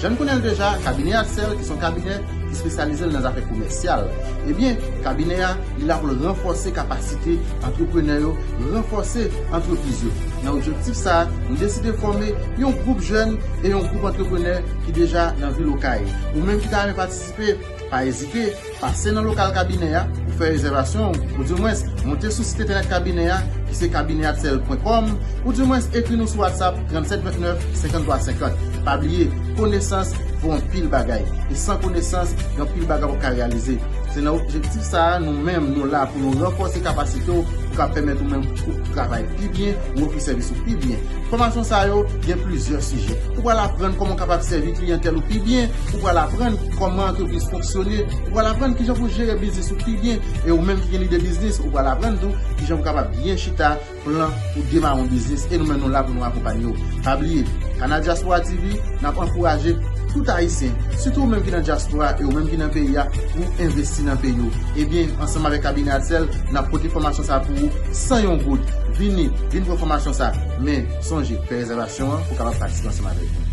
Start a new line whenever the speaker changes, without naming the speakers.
Jan n konnen l deja, kabinè Axel ki s on kabinè ki spesyalize l nan zafè komèsyal, ebyen kabinè a li la pou l ranfòse kapasite antreprenè yo, ranfòse antrepriz yo. Nan objektif sa, nou deside fòme yon gwoup jèn e yon gwoup antreprenè ki deja nan vil Okay. Ou menm ki ta renmen patisipe. Pa ezite, pase nan lokal kabinè a pou fè rezèvasyon ou, ou di mwens moute sou sit entènèt kabinè a ki se cabineatcel pwen kòm, ou di mwens ekri nou sou WhatsApp 37 29 53 50. Pa bliye, konesans vo anpil bagay, e san konesans gen anpil bagay wap ka reyalize. Se nan objektif sa a nou menm nou la pou nou ranfòse kapasite w pou ka pèmèt ou menm ou travay pi byen, ou ofri sèvis ou pi byen. Fòmasyon sa yo gen plizyè sijè. Ou pral aprann kòman w kapab sèvi kliyantèl ou pi byen, ou pral aprann kòman antrepriz fonksyone, ou pral aprann kijan pou jere biznis ou pi byen e ou menm ki gen lide biznis ou pral aprann tou kijan pou kapab byen chita plan pou demare yon biznis e nou menm nou la pou nou akonpanye w. Pa bliye, Canal Diaspora TV, n ap ankouraje tout Ayisyen, sitou ou menm ki nan dyaspora e ou menm ki nan peyi a, pou w envesti nan peyi w. Ebyen, ansanm avèk Kabinè Adsèl, n ap pote fòmasyon sa pou ou san yon goud. Vini! Vin pran fòmasyon sa a, men sonje fè rezèvasyon an pou w kapab patisipe ansanm avèk nou.